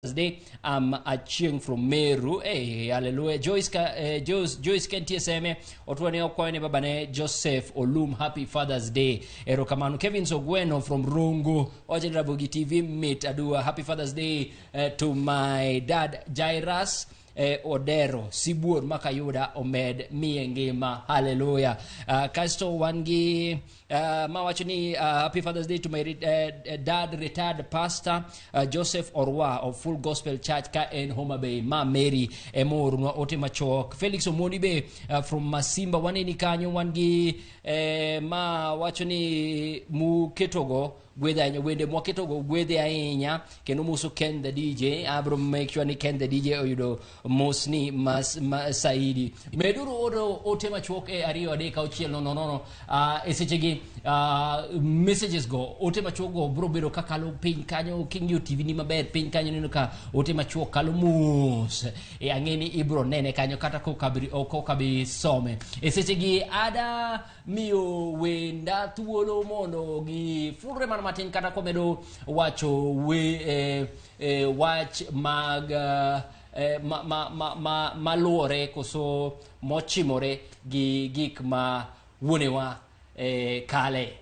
Thursday. I'm a cheering from Meru. Hey, hallelujah. Joyce, Ka- eh, Joyce, Joyce Kentie Seme, Otwene Okwane Babane, Joseph Olum, happy Father's Day. Ero Kamanu, Kevin Sogweno from Rungu, Ojen Rabugi TV, Meet Adua, happy Father's Day eh, to my dad Jairus. eh, odero sibuor ma kayuda omed miye ngima haleluya uh, kasto wan gi uh, ma wacho ni uh, happy fathers day to my re- eh, eh, dad retired pastor uh, joseph orwa of full gospel church ka en homa bay ma mary emoorunwa ote machok felix omoni be uh, from masimba waneni kanyo wan gi eh, ma wacho ni muketogo gwedhe ahinya wende mwaketogo gwedhe ahinya kendo moso ken the dj abro make sure ni ken the dj oyudo mosni mas, ma, saidi meduru oro ote machuok e ariyo adek auchiel nono nono uh, e sechegi uh, messages go ote machuok go bro bedo ka kalo piny kanyo king'iyo tv ni maber piny kanyo neno ka ote machuok kalo mos e ang'e ni ibro nene kanyo kata kokabi some e sechegi ada miyo wenda thuolo mondo gifulre mana matin kata komedo wacho we, eh, eh, wach mag eh, eh, ma, ma, ma, ma, maluwore koso mochimore gi gik ma wuonewa eh, kale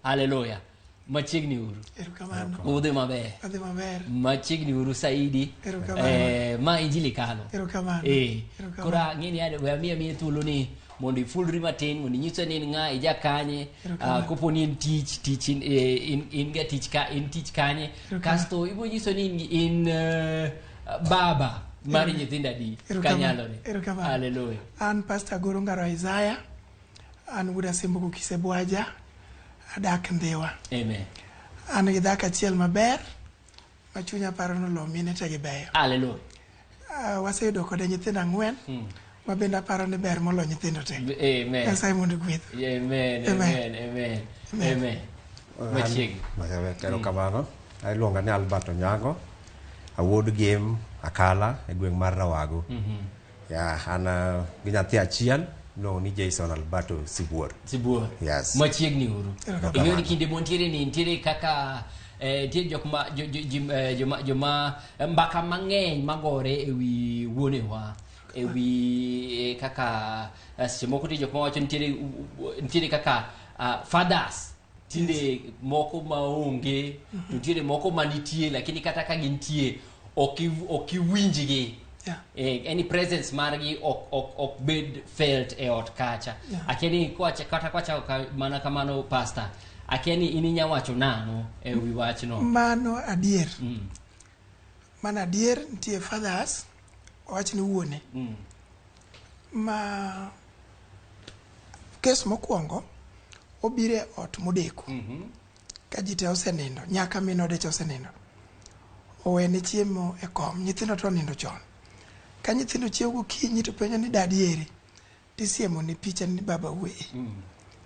haleluya machiegni uru erokamano udhi maber adhi maber machiegni uru saidi Erokamano. eh, ma injili kalo erokamano Eh, Erokamano. koro ang'e ni ade- we amiya miye thuolo ni mondo ifulri matin mondo inyise ni in ng'a ija kanye Erokamano. ah, kopo ni en tich tich in- eh, in- in ga tich ka in tich kanye Erokamano. kasto ibiro nyiso ni in- in eh, baba mar nyithindo adi Erokamano. kanyalore Erokamano. haleluya an pastor goro ngaro isaya An wuod Asembuku Kisebwaja, adak Ndhiwa. Amen. An gi dhako achiel maber ma chunya paro ni olo mine te gibeyo. Hallelujah. Ah, waseyudo kode nyithindo ang'wen hmm. ma bende aparo ni ber molo nyithindo te. Amen. Nyasaye mondo gweth. Amen. Amen. Amen. Amen. Machiegni. Erokamano. Hmm. Iluonga ni Albert Onyango. Awuod Gem Akala e gweng' mar Rawago. Mm -hmm. Yeah, and uh, gi nyathi achiel no ni Jason Alberto Sibuor. Sibuor. Yes. Machiegni uru. Ing'eyo ni kinde montiere ni nitiere kaka eh, nitie jok ma jo- jo- jim- eh, joma joma eh, mbaka mang'eny magore ewi wuonewa ewi eh, kaka eh, seche moko nitie jok mawacho nitiere u- u- nitiere kaka ah, fathers tinde moko maonge to tinde moko manitie lakini kata ka gintie ok iw- ok iwinjgi Yeah. Eh, any presence margi ok ok ok bed felt e ot kacha Yeah. akeni kwacha kata kwacha ka, mana kamano pastor akeni in inya wacho nano e wi wachno mano adier mm. mano adier nitie fathers owach ni wuone mm. Ma kes mokwongo obiro e ot modeko mm -hmm. ka ji te osenindo nyaka min ode cha osenindo owene chiemo e kom nyithindo to onindo chon ka nyithindo chiewo gokinyi to penjo ni dadi eri tisiemo ni picha ni baba uwe mm.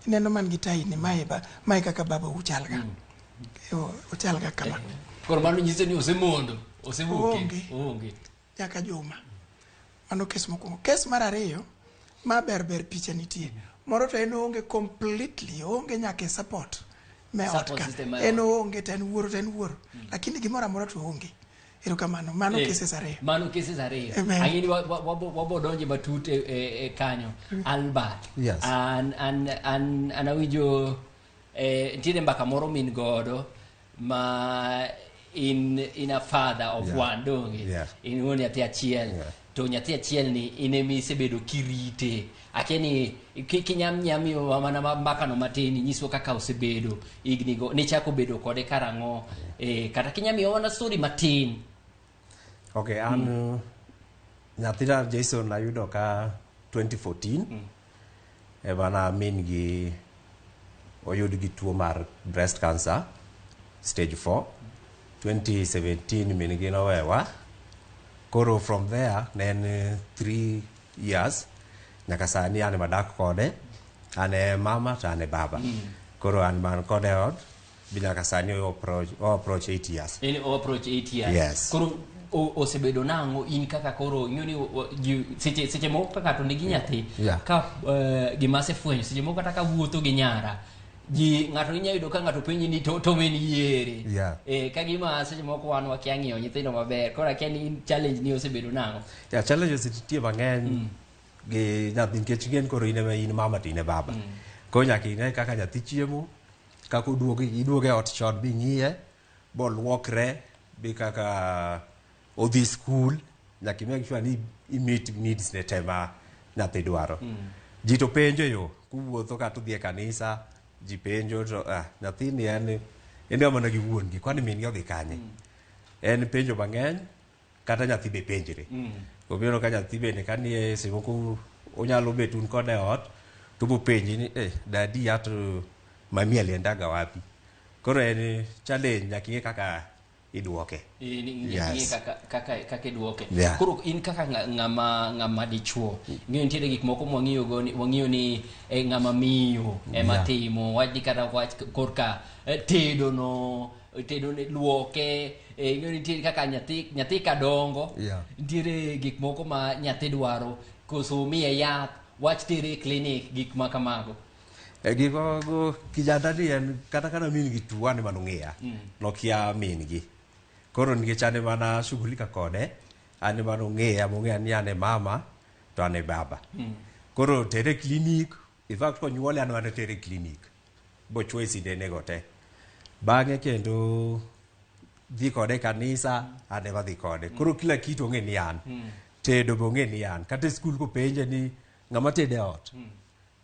ineno man gi tai ni mae ba mae kaka baba uchalga mm. uchalga kama eh, koro mano nyiso ni osemondo osemondo onge onge nyaka juma. Mano kes mokwongo. Kes mar ariyo ma ber ber picha nitie. Moro to en oonge completely, oonge nyaka e support me ot Support ka. system mar En ot. oonge to en wuoro to en wuoro. Lakini gimoro amora to oonge. Erokamano. Mano Eh, cases ariyo. Mano cases ariyo. Amen. Ang'e ni wa- wa- wabo- wabo donje matut e, e, e kanyo. Albert. Yes. An, an, an, an awinjo eh, nitiere mbaka moro min godo ma in in a father of Yeah. one donge Yeah. in wuon nyathi achiel Yeah. to nyathi achiel ni in ema isebedo kirite akia ni ki- kinyamnyam yo mana ma- makano matin inyiso kaka osebedo ignigo nichako bedo kode karang'o eh, kata kinyamiyo mana story matin Okay, an nyathina Jason ayudo ka 2014 Emana min gi oyud gi tuo mar breast cancer stage 4 2017 min gi nowewa koro from there ne en 3 years nyaka sani an madak kode an e mama to an e baba koro an man kode ot Bi nyaka sani o approach o approach 8 years. En o approach 8 years. Yes. Koro o- osebedo nang'o in kaka koro ing'eyo ni o- o- ji- seche seche moko ka ng'ato nigi nyathi Yeah. ka eh, gima asefwenyo seche moko kata ka wuotho gi nyara ji ng'ato inya yudo ka ng'ato penji ni to to min yiere Yeah. eh ka gima seche moko wan wakia ng'iyo nyithindo maber koro akia ni in challenge ni osebedo nang'o Ya challenges nitie mang'eny gi nyathi nikech ng'en koro in ema in mama to in e baba. Koro nyaka ine kaka nyathi chiemo, kaka oduogo iduogo e ot chon bing'iye boluokre bi kaka odhi skul nyaka i make sure ni i meet needs ne te ma nyathi dwaro ji to penjo yo kuwuotho kata udhi e kanisa ji penjo to ah, nyathini en en ga mana gi wuon-gi kwani min-gi odhi kanye en penjo mang'eny kata nyathi be penjre obiro ka nyathi bende ka nie seche moko onyalo bet un kode ot to bopenji ni eh dadi ya to mami aliendaga wapi koro en challenge nyaka ing'e kaka idwoke Eh, ni- ni- Yes. ni kaka- kaka- kaka idwoke Yeah. koro in kaka ng'a- ng'ama ng'ama dichuo ing'eyo nitiere gik moko mwang'iyogo ni- wang'iyo ni eh, ng'ama miyo ema Yeah. timo wachni kata wach korka eh, tedono tedo ne luoke eh, ing'eyo nitie kaka nyathi nyathi ka dongo Yeah. nitiere gik moko ma nyathi dwaro koso miye yath wach tere e clinic gik ma kamago E gigogo kijanda ni en kata kana min gi tuo ane mano ng'iya nokia min gi koro nikech ane mana shughulika kode ane mano ng'iya mong'eya ni ane mama to ane baba koro tere klinik In fact konyuole an wana tere clinic bochwoye sindenego te bang'e kendo dhi kode e kanisa an ema dhi kode koro kila kitu ong'e ni an tedo be ong'e ni an kata e skul kopenje ni ng'ama tedo e ot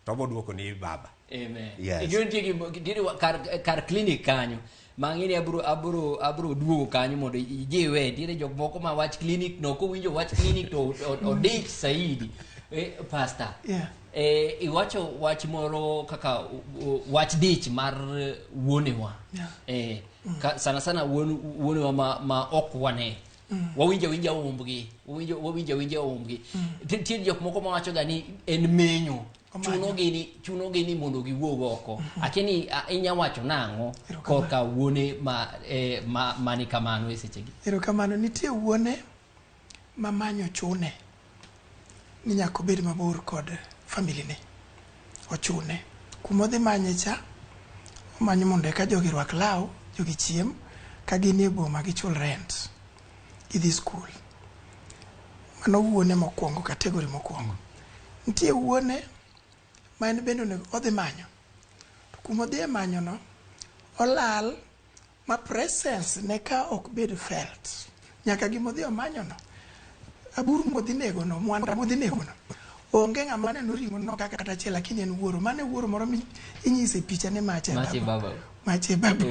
to obodwoko ni baba Amen. Yes. Ijo nitie gi- gi- diri wa- kar, kar clinic kanyo ma ang'e ni abro abro abro duogo kanyo mondo ijiwe nitiere jok moko ma wach clinic no kowinjo wach clinic to o- odich saidi Eh, pastor Yeah. eh, iwacho wach moro kaka u- u- wach dich mar eh, wuonewa Yeah. eh, ka, sana sana wuon- wuonewa ma, ma ok wane wawinjo winja umbgi wawinjo wawinjo winja umbgi Ti- tiere jok moko mawachoga ni en menyo chunogi ni chunogi ni mondo giwuog oko akini a- inya wacho nang'o korka wuone ma eh, ma mani kamano e sechegi erokamano nitie wuone ma manyo chune ni nyaka obed mabor kod familine ochune kuma odhi manye cha omanyo mondo eka jogi rwak law jogi chiem ka gin e boma gichul rent gidhi skul. Mano wuone mokwongo, category mokwongo. Nitie wuone ma en bende onego odhi manyo. To kuma odhiye manyono, olal ma presence ne ka ok bed felt. Nyaka gima odhi omanyono, aburu modhi negono, mwanda modhi negono, onge ng'ama neno ring'ono kaka kata achiel lakini en wuoro. Mano e wuoro moro minyise picha ni ma ache babu. Mache babu.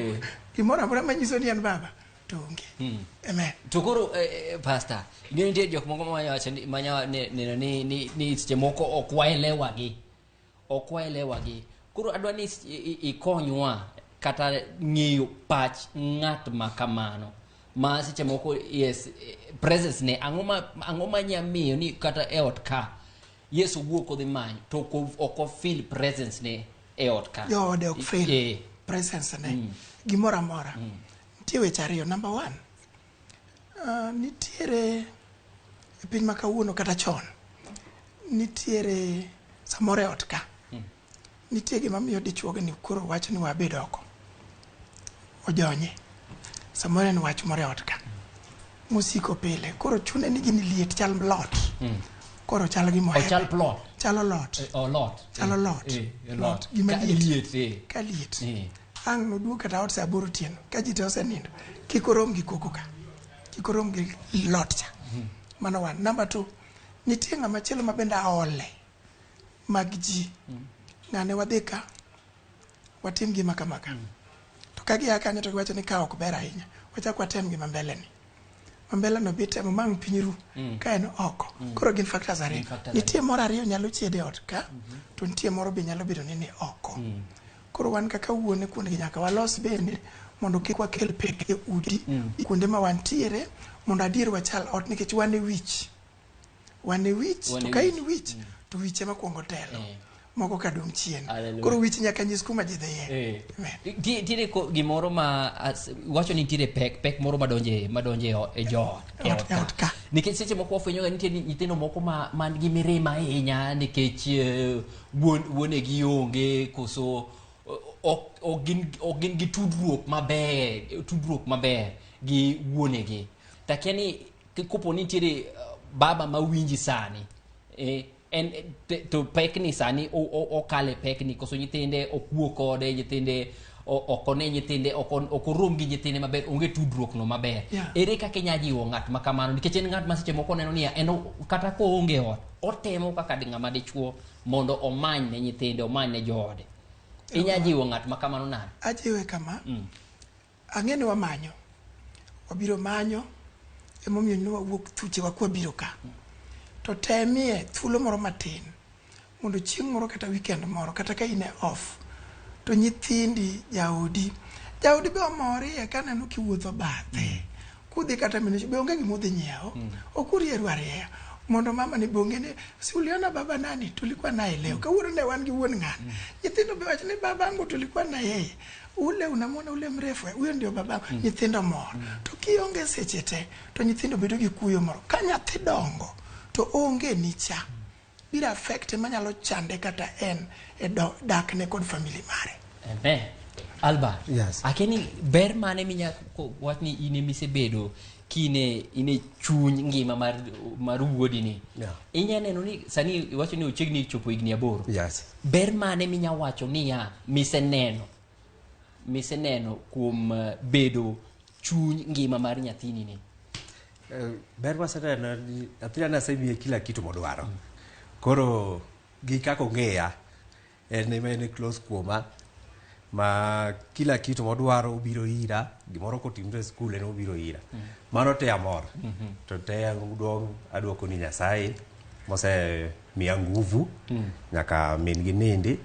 Gimoro amora manyiso ni en baba. to onge Mm. amen to koro eh, eh, pastor ing'eyo nitie jok moko mawacho ni- manya ne- neno ni- ni ni seche moko ok waelewagi ok waelewagi koro adwa ni s- i- i- ikonywa kata ng'eyo pach ng'at ma kamano ma seche moko yes eh, presence ne ang'o ma ang'o ma nya miyo ni kata e ot ka yesu wuok odhi manyo to ok o- ok ofil presence ne e ot ka joode ok fail Eh, presence ne gimoro amora Nitie weche ariyo, number one, uh, nitiere e piny ma kawuono kata chon nitiere samoro e ot ka hmm. nitie gima miyo dichuoge ni koro wach ni wabed oko ojonye samoro en wach moro e ot ka mosiko pile koro chune ni gini liet chal lot hmm. koro chal gi mohe chal plot chalo lot eh, oh, lot chalo eh, lot eh, lot gima liet ka liet Ang' noduog kata ot sa aboro otieno ka ji te osenindo. Kik orom gi koko ka. Kik orom gi lot cha. Mano one. Number two, nitie ng'ama chielo ma bende aole mag ji. Ng'ane wadhi ka, watim gima kama ka. To ka gia kanyo to giwacho ni ka ok ber ahinya, wachak watem gima mbele ni. Ma mbele no bi temo mang' piny ru ka en oko. Koro gin factors ariyo. Nitie moro ariyo nyalo chiede ot ka, to nitie moro be nyalo bedo ni ni oko. Koro wan kaka wuone kuondgi nyaka walos bende mondo kik wakel pek e udi mm. kuonde ma wantiere mondo adier wachal ot nikech wan e wich wan e wich to ka in wich mm. to wich ema kwongo telo eh. moko ka dong' chien koro wich nyaka nyis kuma ji dhiye eh. ntiere gimoro ma wacho ni ntiere pek pek moro madonje madonje e joot e ot ka nikech seche moko wafwenyoga nitie nyithindo moko man gi mirima ahinya nikech eh, wuonegi onge koso ok gin gi tudruok maber tudruok maber gi wuonegi takia ni kopo ni nitiere uh, baba ma winji sani eh, en to pekni sani okale pekni koso nyithinde okuo kode nyithinde ok one nyithinde ok orum gi nyithinde maber onge tudruok no maber yeah. ere kaka inya jiwo ng'at ma kamano nikech en ng'at ma seche moko neno niya en kata ko onge ot otemo kaka di ng'ama dichuo mondo omany ne nyithinde omany ne joode inya jiwo ng'at ma kamano nade ajiwe kama mm. ang'e ni wamanyo wabiro manyo emomiyo ne wawuok thuche wakwa biro ka mm. to temie thuolo moro matin mondo chieng' moro kata weekend moro kata ka in e off to nyithindi jaodi jaodi be omorie kaneno kiwuotho bathe kudhi kata mine be onge gima udhi nyiewo ok urieru arieya mondo mama ni bonge ni si uliona baba nani tulikuwa naye leo kawuono ne wan gi wuon ng'ani nyithindo be wacho ni babangu tulikuwa na yeye ule unamwona ule mrefu eh, huyo ndio babangu nyithindo mor to kionge seche te to nyithindo bedo gi kuyo moro ka nyathi dongo to onge nicha biro affect ema nyalo chande kata en e dak ne kod family mare Amen. Alba. Yes. Akeni ber mane minya wach ni ine mise bedo kine ine chuny ngima mar mar wuodi ni. Yeah. Inya neno ni sani iwacho ni ochegni chopo igni aboro. Yes. Ber mane minya wacho ni ya mise neno. Mise neno kuom eh, bedo chuny ngima mar nyathini ni. Eh, ber maseneno en ni nyathina nasemiye kila kitu modwaro koro gi kaka ong'eya en ema en close kuoma ma kila kitu modwaro obiro ira gimoro kotimre e skul en obiro ira mano te amor to te duong' adwoko ni nyasaye mosemiya nguvu nyaka min gi nindi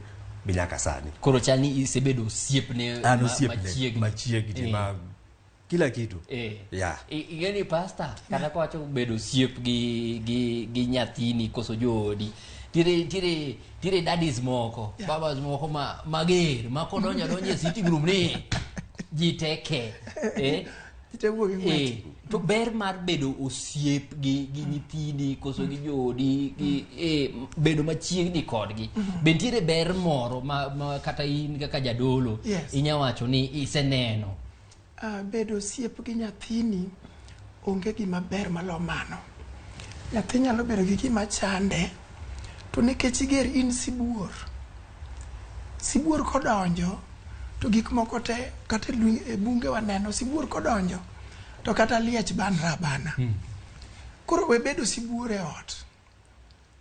bi nyaka sani koro chal ni isebedo osiepne an ma- osiepne machiegni. machiegni Eh. ma kila kitu eh. yeah. ing'e ni pasta kata kwacho bedo siep gi, gi, gi nyathini koso joodi tire tire tire dadis moko yeah. babas moko ma mager ma kodonjo donje sitting room ni ji teke eh eh, to ber mar bedo osiep gi gi nyithini koso gi joodi gi eh, bedo machiegni kodgi mm-hmm. be nitiere ber moro ma, ma kata in kaka jadolo yes. inya wacho ni iseneno Uh, bedo osiep gi nyathini onge gima ber malo mano. Nyathi nyalo bedo gi gima chande to nikech iger in sibuor, sibuor kodonjo to gik moko te kata e bunge waneno sibuor kodonjo to kata liech banra bana. Hmm. Koro we bedo sibuor e ot.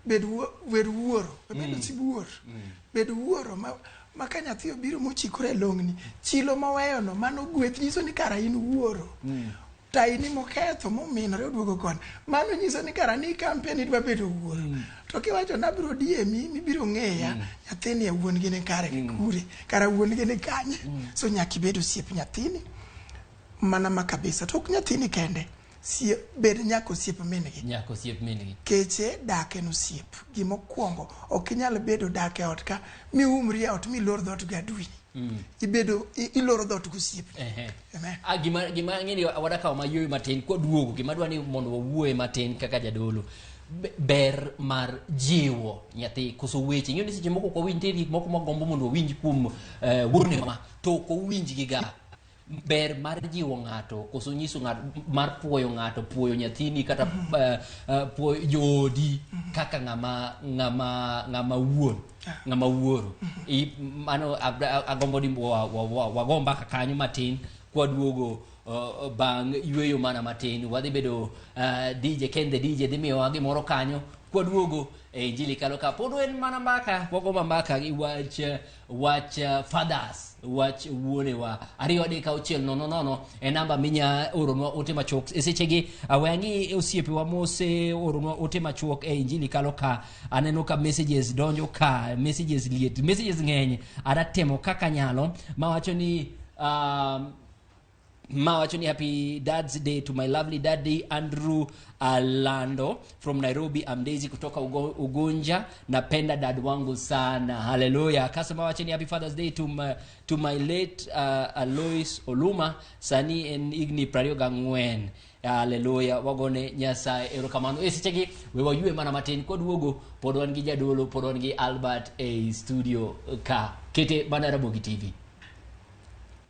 bed wer wuoro bed mm. osib wuor mm. bed wuoro ma ma ka nyathi obiro mochikore longni chilo moweyo no mano gweth nyiso ni kara in wuoro mm. taini moketho mominore oduogo kon mano nyiso ni kara ni kampen idwa bedo wuoro mm. to kiwacho nabiro diemi mibiro ng'eya mm. nyathini e wuon gi ni kare mm. kure kara wuon gi ni kanye mm. so nyaka ibed osiep nyathini mana ma kabisa to ok nyathini kende sie bed nyaka osiep mingi nyaka osiep mingi keche dak en osiep gima okwongo ok inyal bedo dak e ot ka mi umri e ot mi lor dhot gi adwini mm. ibedo iloro dhot gosiep ah, gima gima ng'eni awada kawo mayuoyo matin kwa duogo gima dwa ni mondo wawuoye matin kaka jadolo ber mar jiwo nyathi koso weche ing'eyo ni seche moko kwa winj gik moko magombo mondo wawinj kuom uh, wuone ma to ok owinjgiga ber mar jiwo ng'ato koso nyiso ng'ato mar puoyo ng'ato puoyo nyathini kata uh, uh, puoyo joodi kaka ng'ama ng'ama ng'ama wuon ng'ama wuoro I, mano abra- agombo ni wa- wa- wa- wago mbaka kanyo matin kwaduogo uh, bang' yueyo mana matin wadhi bedo uh, dj ken the dj dhi miyowa gimoro kanyo kwaduogo e injili kalo ka pod en mana mbaka wago ma mbaka gi wach uh, wach uh, fathers wach wuonewa ariyo adek auchiel nono nono e namba minya oronwa ote machuok e sechegi aweyangi osiepewa mose oronwa ote machuok e injili kalo ka aneno ka messages donjo ka messages liet messages ng'eny adatemo kaka nyalo mawacho ni um, ma wacho ni happy dad's day to my lovely daddy andrew alando from nairobi I'm daisy kutoka Ugo- ugunja napenda dad wangu sana haleluya kasema wache ni happy father's day to my, to my late uh, alois oluma sani en igni prario gang'wen haleluya wagone nyasaye erokamano e sechegi we waywe mana matin kwaduogo pod wan gi jadolo pod wan gi albert e studio ka kete mana rabogi tv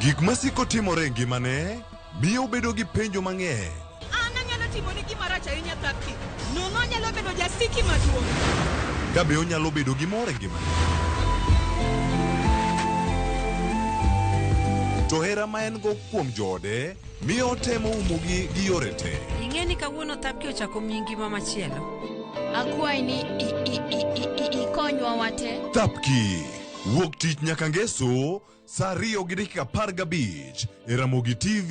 Gik masiko timore e ngimane miyo obedo gi penjo mang'eny. An anyalo timoni gima rach ahinya thapki. Nono anyalo bedo jasiki maduong'. Kabe onyalo bedo gi mor e ngimane? To hera ma en-go kuom joode Mi otemo umogi gi yore te. Ing'e ni kawuono thapki ochako miyi ngima machielo. Akwayi ni i- i- i- i- i- ikonywa wate. Thapki. Wuok tich nyaka ngeso saa ariyo gi dakika apar gabich e Ramogi TV.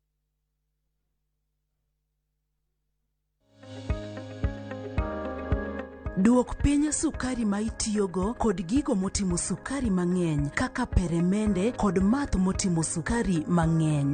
Duok piny sukari ma itiyogo kod gigo motimo sukari mang'eny kaka peremende kod math motimo sukari mang'eny.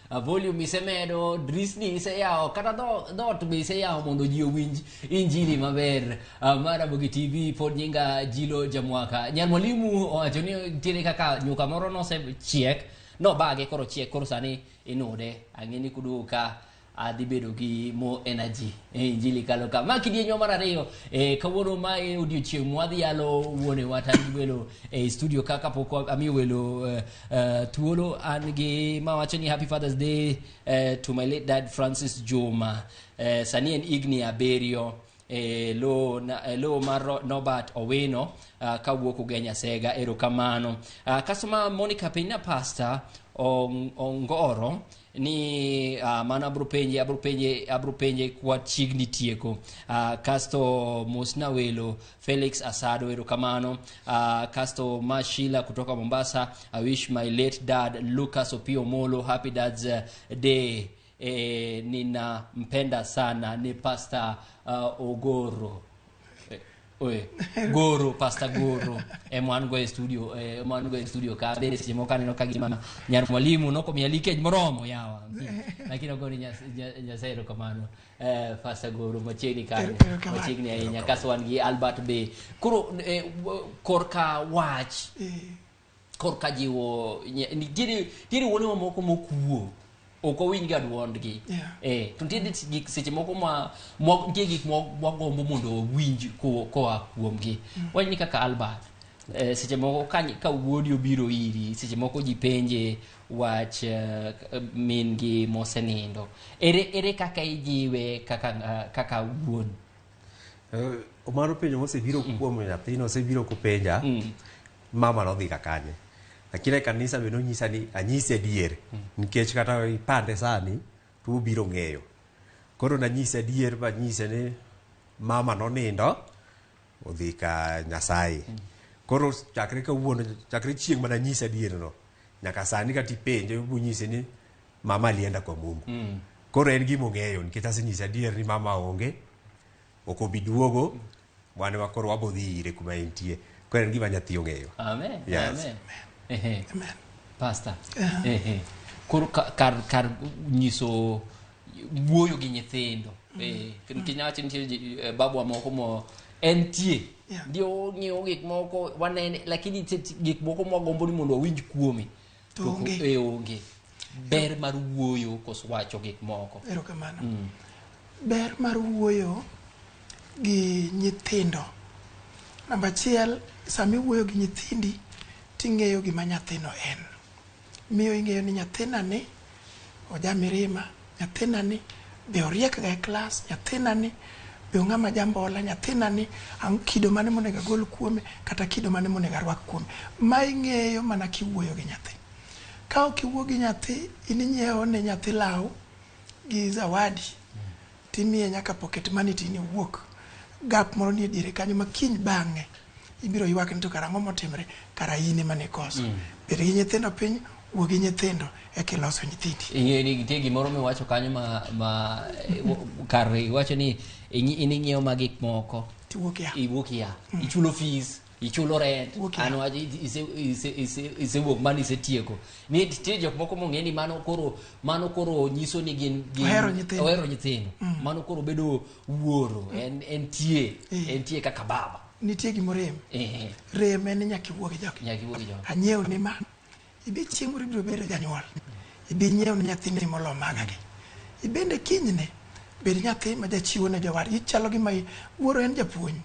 A volume isemedo, drisni iseyawo, kata dho- dhoot be iseyawo mondo ji owinj injili maber. Ah, Ma Ramogi TV pod nyinga Jilo Jamwaka. Nyar mwalimu owacho ni nitiere kaka nyuka moro nosechiek, nobage koro chiek koro sani inude. Ang'e ni kuduogo ka adhi bedo gi more energy e injili kalo ka ma kidienyo mar ariyo e, kawuono ma e odiechieng' mwadhi yalo wuone wata gi welo e studio ka kapok amiyo welo eh, Uh, Tuolo Ange mawacho ni happy Father's Day uh, to my late dad Francis Juma. Uh, sani en higni abiriyo e lo, na, e lo mar Ro- Norbert Owino uh, kawuok Ugenya Sega erokamano. Uh, Customer Monica Peina Pastor Ong- Ongoro ni uh, mano abro penje abro penje abro penje kwa chiegni tieko uh, kasto mosna welo Felix Asado erokamano uh, kasto Mashila kutoka Mombasa I wish my late dad Lucas Opio Molo happy dad's uh, day eh, ninampenda sana ni Pastor uh, Ogoro Oye, goro pasta goro ema wan go e studio eh, ema wan go e studio ka bende seche moko aneno ka gima nyar mwalimu nokomiya likej moromo yawa lakini ogo ni Nyas- Nya- nyasaye erokamano eh, pasta goro machiegni kanyo Erokamano. machiegni ahinya kaso wan gi albert be koro eh, w- korka wach korka jiwo nye- nitiere nitiere wuonewa moko mokuo ok owinjga dwondgi Yeah. eh, to nitiere gik seche moko ma mwa- nitie gik mwa- mwagombo mondo wawinj ko- koa kuomgi wach ni kaka albert eh, seche moko ka ny- ka wuodi obiro iri seche moko ji penje wach eh, min gi mosenindo ere ere kaka ijiwe kaka nga- kaka wuon Omaro penjo mosebiro kuom nyathino osebiro kopenja mama nodhi ka kanye lakini e kanisa be nonyisa ni anyise adier nikech kata ipande sani to obiro ng'eyo koro nanyise adier manyise ni mama nonindo odhi ka nyasaye koro chakre kawuono chakre chieng' mananyise adierno nyaka sani kata ipenje bonyise ni mama alienda kwa mungu mm. koro en gima ong'eyo nikech asenyise adier ni mama onge ok obi duogo wan ema koro wabodhi ire kuma entie koro en gima nyathi ong'eyo Amen. Yes. Amen. Ehe. Pastor. Ehe. Koro ka- kar kar nyiso wuoyo gi nyithindo. Eh, nikech nyawacho nitie ji- eh, babwa moko mo entie. Yeah. Ndio ong'eyo gik moko wanene lakini nitie gik moko mwagombo ni mondo wawinj kuome. to To onge e onge ber mar wuoyo kos wacho gik moko erokamano ber mar wuoyo gi nyithindo namba achiel sama iwuoyo gi nyithindi ting'eyo gima nyathino en miyo ing'eyo ni nyathinani Oja mirima, nyathina ni be oriek ga e klas, nyathina ni be ong'ama jambola, nyathina ni ang' kido mane monego agol kuome kata kido mane monego arwak kuome. Ma ing'eyo mana kiwuoyo gi nyathi. Ka ok iwuo gi nyathi in inyiewo ne nyathi law gi zawadi Timiye nyaka pocket money tine owuok. Gap moro nie diere kanyo ma kiny bang'e ibiro ywak ni to kara ang'o motimre, kara in ema nikoso. Mm. Bed gi nyithindo piny, wuo gi nyithindo eka iloso nyithindi. Ing'eyo ni nitie gimoro miwacho kanyo ma, ma eh, kar iwacho ni ing'iewo ma gik moko. Tiwuok ya. Iwuok ya. Mm. Ichulo fees. ichulo rent okay. an waje ise ise ise ise wuok man ise tieko ni tie jok moko mong'e ni mano koro mano koro nyiso ni gin gin ohero nyithindo ohero nyithindo mm. mano koro bedo wuoro mm. en en tie eh. en tie kaka baba nitie gimo rem eh. rem en nyaka iwuogi jok nyaka iwuogi jok anyiew ni man ibi chieng' moro ibiro bedo janyuol ibi nyiew ni nyathini molo maga gi ibende kinyne bed nyathi ma jachiwo ne jowar ichalo gi ma wuoro en japuonj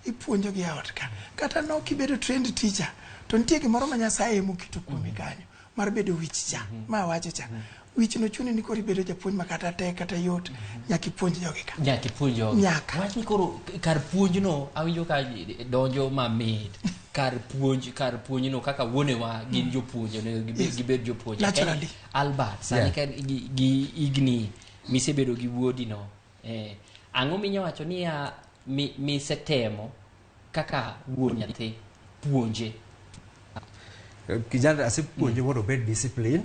ipuonjo gi eot ka kata no kibedo trend teacher to nitie gimoro ma Nyasaye emo kito kuomi mhm. kanyo mar bedo wich cha mhm. ma wacho cha mhm. wich no chuni ni koro ibedo japuonj ma kata te kata yot nyaka ipuonj jogi ka nyaka ipuonj jogi nyaka wach ni koro kar puonj no awinjo ka donjo ma mit kar puonj kar puonj no kaka wuonewa gin mm. jopuonj onego gibed gibed jopuonj naturally Albert sani yeah. ka gi, gi igni misebedo gi wuodi no Eh, ang'o minyawacho niya mi, misetemo kaka wuon nyathi puonje kijana asepuonje mondo obed discipline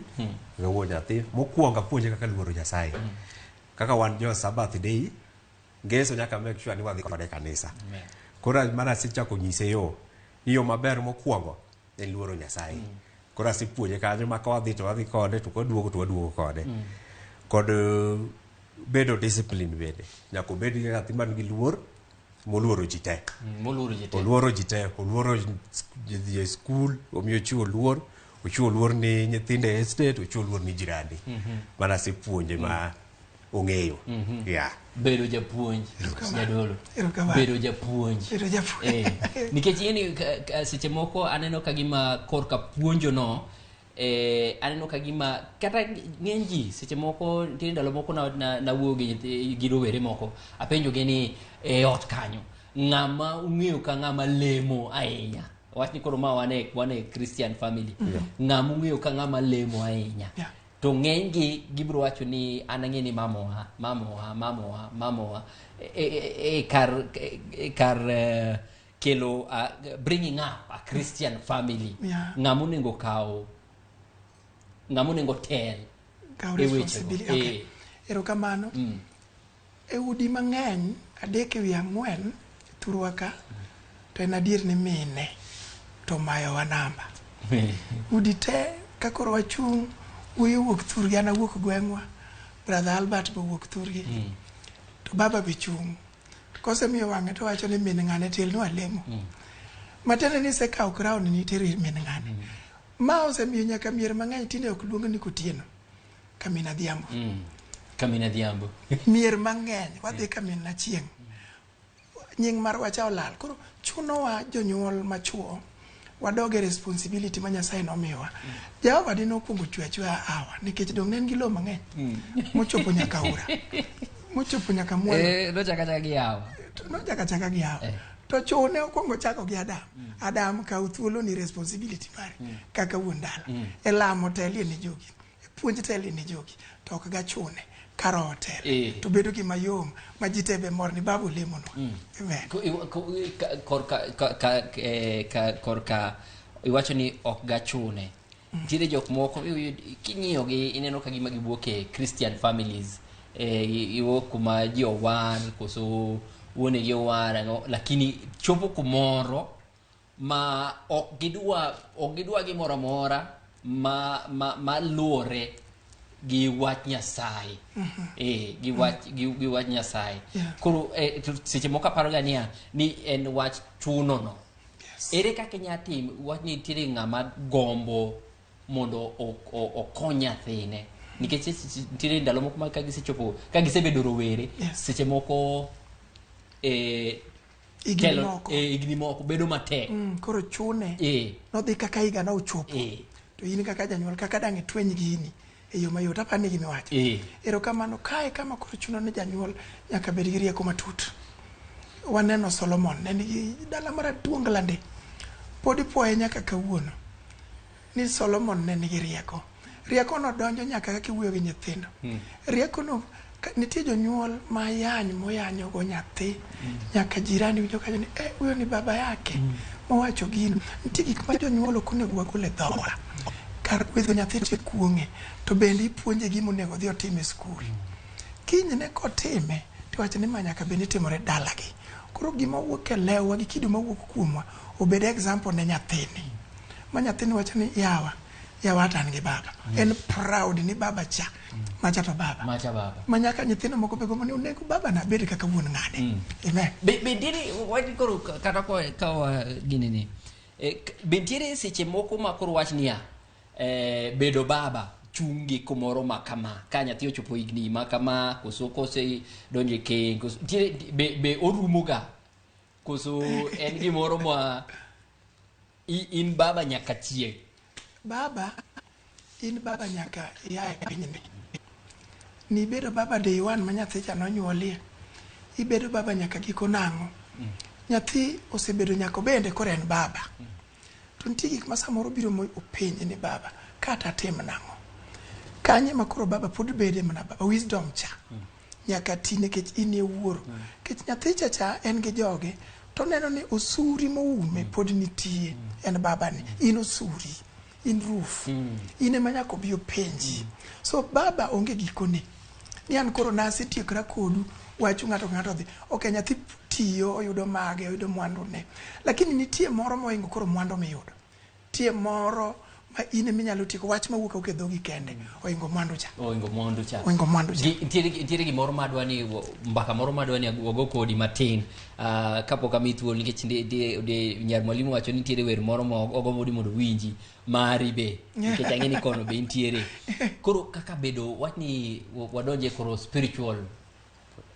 e wuon nyathi mokwongo apuonje kaka luoro nyasaye kaka wan jo sabath day ngeso nyaka make sure ni wadhi kode e kanisa Amen. koro mana asechako nyise yo ni yo maber mokwongo ne luoro Nyasaye. Mm. Koro asepuonje kanyo ma ka wadhi to wadhi kode to kwaduogo to waduogo kode. Mm. Kod uh, bedo discipline bende. Nyaka obed gi nyathi man gi luor moluoro ji te. Mm, moluoro ji te. Oluoro ji te. Oluoro ji e skul, omiyo chiwo luor. Ochiwo luor ni nyithindo e estate, ochiwo luor ni jirani. Mm -hmm. Mana asepuonje mm. ma ong'eyo mhm. yeah. bedo japuonj jadolo bedo japuonj eh, nikech ini seche moko aneno ka gima korka puonjo no eh, aneno ka gima kata ng'eny ji seche moko nitie ndalo moko nawuoyo gi rowere moko apenjogi ni e ot kanyo ng'ama ung'eyo ka ng'ama lemo ahinya wach ni koro ma wane wane christian family yeah. ng'ama ung'eyo ka ng'ama lemo ahinya yeah. to ng'enygi gibiro wacho ni an ang'e ni mamowa mamowa mamowa mamowa e, e, e, e kar e, e kar eh, kelo uh, bringing up a christian family Yeah. ng'ama onego kawo ng'ama onego tel Kaw e wechego. responsibility. Okay. Eh, Erokamano. mm. E udi mang'eny, adek e wi ang'wen thurwa ka to en adier ni mine to mayowa namba. Udi te ka koro wachung' wuoyi owuok thurgi an awuok gweng'wa, brother Albert be owuok thurgi to baba be chung'. To kosemiyo wang'e to wacho ni min ng'ane telnwa lemo. Matiende ni isekawo crown ni itero ir min ng'ane. Ma osemiyo nyaka mier mang'eny tinde ok luong ni Kotieno. Kamina Dhiambo. Mm. Kamina Dhiambo. Mier mang'eny wadhi Kamina chieng'. Nying mar wacha olal. Koro chunowa jonyuol machuo wadoge responsibility ma Nyasaye nomiwa. Mm. Jehova dine okwongo chwe achweya awa nikech dong' ne en gi lowo mang'eny mm. mochopo nyaka ura mochopo nyaka mwana. Eh, nochako achaka gi yawa. Nochako achaka gi yawa. Eh. To chune okwongo chako gi Adam. Mm. Adam kaw thuolo ni responsibility mari mm. kaka wuon dala. Mm. E lamo telie ni jogi. puonj tele ne jogi to ok gachune kar hotel eh. to bedo gi mayom ma ji tebe mor ni babu lemo no mm. amen korka ka eh, ka korka iwacho ni ok gachune mm. tire jok moko kinyiyo gi ineno ka gima giwuok e christian families eh iwo kuma ji owan koso wuonegi owar lakini chopo kumoro ma ok gidwa ok gidwa gimoro amora ma ma maluwore gi wach Nyasaye mhm. eh gi wach gi, gi wach Nyasaye yeah. koro eh, seche moko aparo ga niya ni en wach chuno no yes. ere kaka inya tim wach ni nitiere ng'ama gombo mondo okony nyathine nikech nitiere ndalo moko ma ka gisechopo ka gisebedo rowere yes. seche moko eh, higni moko eh, higni moko bedo matek mm, koro chune eh. nodhi kaka higa na ochopo eh. to in kaka janyuol kaka dang' itweny gini e yo mayot apa ni gimiwacho eh. erokamano kae kama koro chuno ni janyuol nyaka bed gi rieko matut waneno solomon ne nigi dala maraduonglande pod ipuoye nyaka kawuono ni Solomon ne nigi rieko. Riekono donjo nyaka kaka iwuoyo gi nyithindo. Hmm. Riekono nitie jonyuol ma yany moyanyogo nyathi hmm. nyaka jirani winjo kajo ni eh, huyo ni baba yake hmm. mowacho gino. Nitie gik ma jonyuol ok onego wagol e dhowa. Kar gwedho nyathi to ikuong'e to bende ipuonje gima onego odhi otim e skul. Kinyne kotime to iwacho ni ma nyaka bed ni timore dalagi. Koro gima wuok e lewwa gi kido mawuok kuomwa obed example ne nyathini. ma nyathini wacho ni yawa yawa to an gi baba mm. en proud ni baba cha mm. macha to baba macha baba ma nyaka nyithindo moko be gombo ni onego baba na bed kaka wuon ng'ade mm. amen be be dini wadi koro kata ko ka gini ni e, be tiere seche moko ma koro wach niya e, bedo baba chungi kumoro ma kama ka nyathi ochopo higni ma kama koso kose donje keng koso tiere be be orumo ga koso en gimoro ma I- in baba nyaka chieng baba in baba nyaka ia e pinyni nibedo baba day one ma nyathicha nonyuolie ibedo baba nyaka giko nang'o nyathi osebedo nyako bende koro en baba to nitie gik ma samoro biro mo openji ni baba kata atim nang'o kanye ma koro baba pod bede mana baba wisdom cha nyaka ti nikech in e wuoro mm. nikech nyathi cha cha en gi joge to neno ni osuri moume mm. pod nitie mm. en babani in osuri in roof mm. in ema nyaka obi openji mm. so baba onge gikone ni an koro nasetiekra kodu wachu ng'ato ka ng'ato dhi ok nyathi tiyo oyudo mage oyudo mwandune lakini nitie moro mohingo koro mwandu miyudo Nitie moro ma in ema inyalo tieko wach ma wuok awuok e dhogi kende oingo mwandu cha oingo mwandu cha oingo mwandu cha Gi- nitiere gi- nitiere gimoro madwa ni wo- mbaka moro madwa ni wago kodi matin Ah, kapok ami thuolo nikech ndi- ndi- ndi- nyar mwalimu wacho ni nitiere wer moro ma ogombo ni mondo winji mari be nikech ang'e ni kono be nitiere koro kaka bedo wach ni wa- wadonje koro spiritual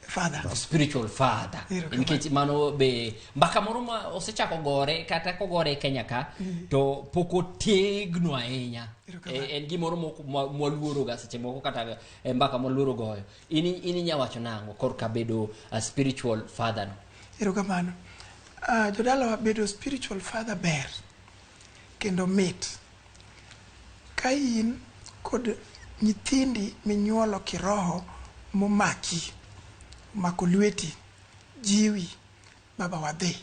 father the spiritual father Erokamano. nikech mano be mbaka moro ma osechako gore kata kogore e kenya ka to pok otegno ahinya Erokamano. Eh, en gimoro mok- mwa- mwaluoroga seche moko kata eh, mbaka mwaluoro goyo in in inya wacho nang'o korka bedo a spiritual father no erokamano uh, jodalawa bedo spiritual father ber kendo mit Ka in kod nyithindi minyuolo kiroho momaki, omako lweti, jiwi, baba wadhi.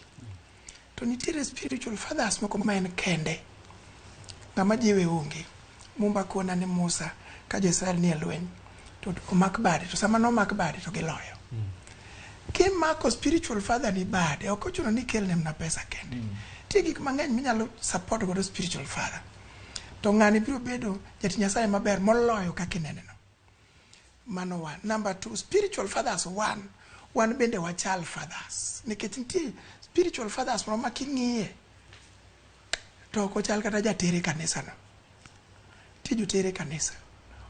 To nitiere spiritual fathers moko ma en kende, ng'ama jiwe onge. Mumba kona ni Musa ka jo-Israel nie lweny, to omak bade to sama nomak bade to giloyo kimako spiritual father ni bade ok ochuno ni ikelne mna pesa kende nitie gik mang'eny minyalo support godo spiritual father to ng'ani biro bedo jati nyasaye maber moloyo kaka ineneno mano one number two spiritual fathers one wan bende wachal fathers nikech nitie spiritual fathers moro ma king'iye to ok ochal kata jatere kanisano Tij oter e kanisa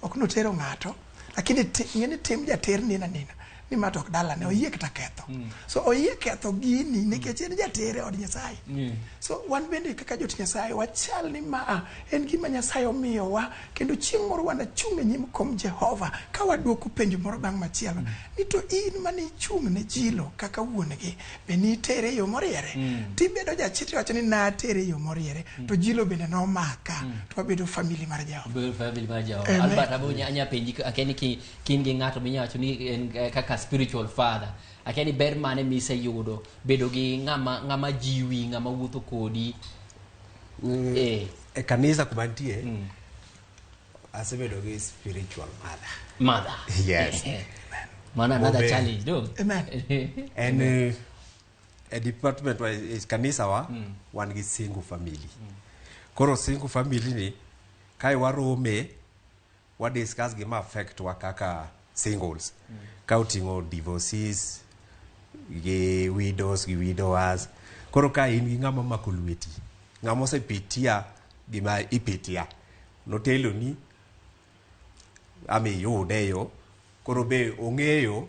ok ni otero ng'ato lakini ing'e ni tim jater nina nina ni ma to ok dalane oyie kata ketho mm. so oyie ketho gini mm. nikech en jater e od nyasaye mm. so wan bende kaka jot nyasaye wachal ni ma en gima nyasaye omiyowa kendo chieng' moro wanachung' e nyim kom jehova ka waduoko penjo moro bang' machielo mm. ni to in mane ichung' ne chilo kaka wuon gi be nitere e yo moriere mm. tibedo jachit iwacho ni natere e yo moriere mm. to jilo bende nomaka mm. to wabedo famili mar jehovaanya penji akia ni kin gi ng'ato minya wacho ni en eh, kaka spiritual father akia ni ber mane miseyudo bedo gi ng'ama jiwi ng'ama wuotho kodi mm. eh. e kanisa kuma nitie mm. Asebedo gi spiritual mother. Mother. Yes. Mana another Bobe. challenge, no? Amen. en eh, e department wa e kanisa wa wan gi single family koro single family ni kae warome wa discuss gima affect wa kaka singles ka oting'o divorces gi widows gi widowers koro ka in gi ng'ama mako lweti ng'ama osepitia gima ipitia noteloni ama iyude e yo koro be ong'eyo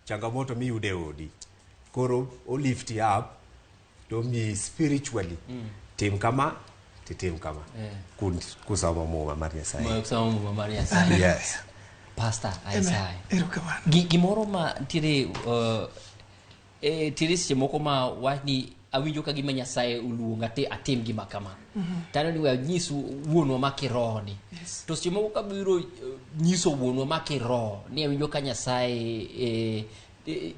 changamoto miyudo e odi koro o lift you up to omiyi spiritually tim kama titim kama Eh. Kun- kusomo muma mar nyasaye Moyo kusoma muma mar Nyasaye. yes Pastor Isaiah. Erokamano. Gi- Gimoro ma ntiere uh, E tiri seche moko ma wach ni awinjo ka gima Nyasaye oluonga ti atim gima kama. Mm -hmm. Tano ni wanyisu wuonwa ma kiroho ni. Yes. To seche moko ka biro eh, nyiso wuonwa ma kiroho ni awinjo ka Nyasaye e, e,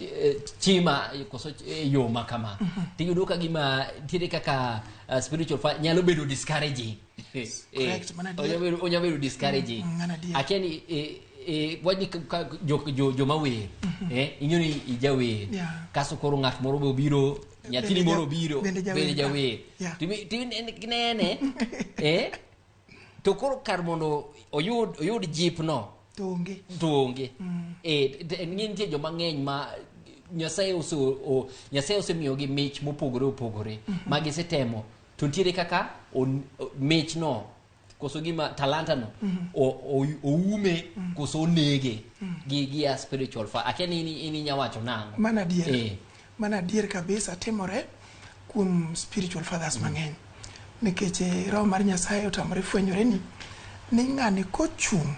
e, chima koso yo ma kama. Mm -hmm. Tiyudo ka gima tire kaka uh, spiritual fire nyalo bedo discouraging. Eh, Correct, mana adier. onya bedo- onya bedo discouraging Mm, mana adier. akia ni eh, eh, wach ni ka- ka- jo- jo- joma wer eh, ing'eyo ni ijawer Yeah. kaso koro ng'at moro be obiro nyathini Bende ja- moro obiro bende jawer. bende jawer Yeah. Timi- timi- en- nene eh, to koro kar mondo oyud oyud jipno to onge to onge Eh, t- en- nitie joma ng'eny ma nyasaye ose- o- nyasaye osemiyogi mich mopogore opogore ma gisetemo to ntiere kaka on- o- michno koso gima talantano o- o- oume koso onege gi gi a spiritual fa akia ni ini- ini nyawacho nang'o mana adier Eh. mana adier kabisa timore kuom spiritual fathers mang'eny nikech eh, roho mar nyasaye otamore fwenyore ni ni ng'ani kochung'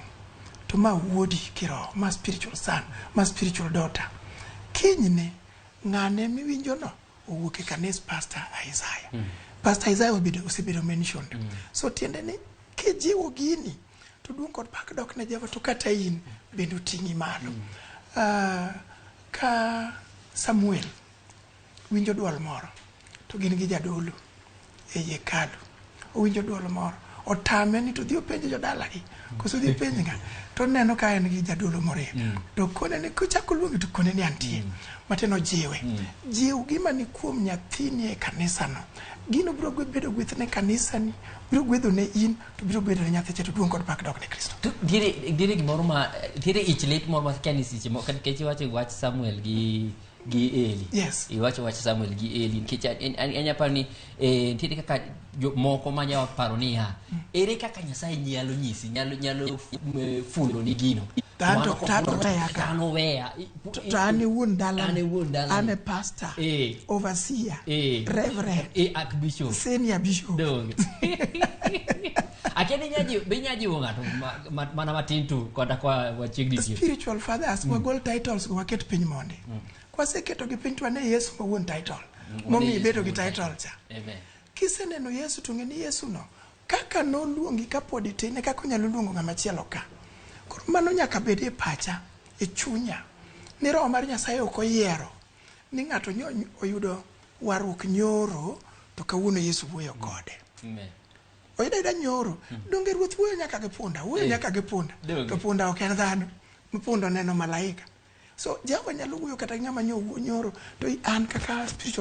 to ma wuodi kiroho ma spiritual son ma spiritual daughter kinyne ng'ane miwinjono owuok e kanis pastor Isaiah mm. pastor Isaiah obedo osebedo mentioned mm. so tiende ni kijiwo gini to duong kod pak dok ne Jehova to kata in bende oting'i malo mm. uh, ka Samuel winjo dwol moro to gin gi jadolo ei hekalu owinjo dwol moro otame ni to dhi openje jodalagi koso dhi penj nga to neno ka en gi jadolo morem mm. to kone ni kochako luongi to kone ni antie mm. matin ojiwe mm. jiw gima ni kuom nyathini e kanisano gino biro bedo gweth ne kanisani biro gwedho ne in to biro bedo ne nyathi to duong kod pak dok ne kristo ntiere gimoro ma ntiere ich lit moro ma kia ni seche moko nikech iwacho wach samuel gi gi Eli. Yes. Iwacho wach Samuel gi Eli nikech an- an- an- anya paro ni eh, nitiere kaka jo- moko ma nya paro niya ere kaka Nyasaye nyalo nyisi nyalo nyalo f- eh, fundo ni gino. An to- Mano to an kok- oweya ka. An oweya. I- To to an e wuon dala. An e wuon dala. An e pastor. Eh. Overseer. Eh. Reverend. Eh, Archbishop. Senior bishop. Donge. Akia ni nyajiwo, be inyajiwo ng'ato ma- mana matin tu kata kwa wachiegni tieko. Spiritual fathers mm. wagol titles go waket piny mondi. Mm. Kwaseketo gi piny to ane Yesu ma wuon title. Mm. Momi bedo gi title cha. Amen. Kiseneno Yesu to ng'e ni Yesu no kaka noluongi kapod itin e kaka onyalo luongo ng'ama chielo ka. Koro mano nyaka bed e pacha, e chunya. Ni roho mar Nyasaye ok oyiero ni ng'ato oyudo warruok nyoro to kawuono Yesu wuoyo kode. Amen. Oyudo ayuda nyoro. Hmm. Donge ruoth wuoyo nyaka gi punda? Wuoyo eh. nyaka gi punda. To punda ok en dhano. Punda oneno malaika. So Jehova nyalo wuoyo kata ng'ama nyoro to an kaka spiritual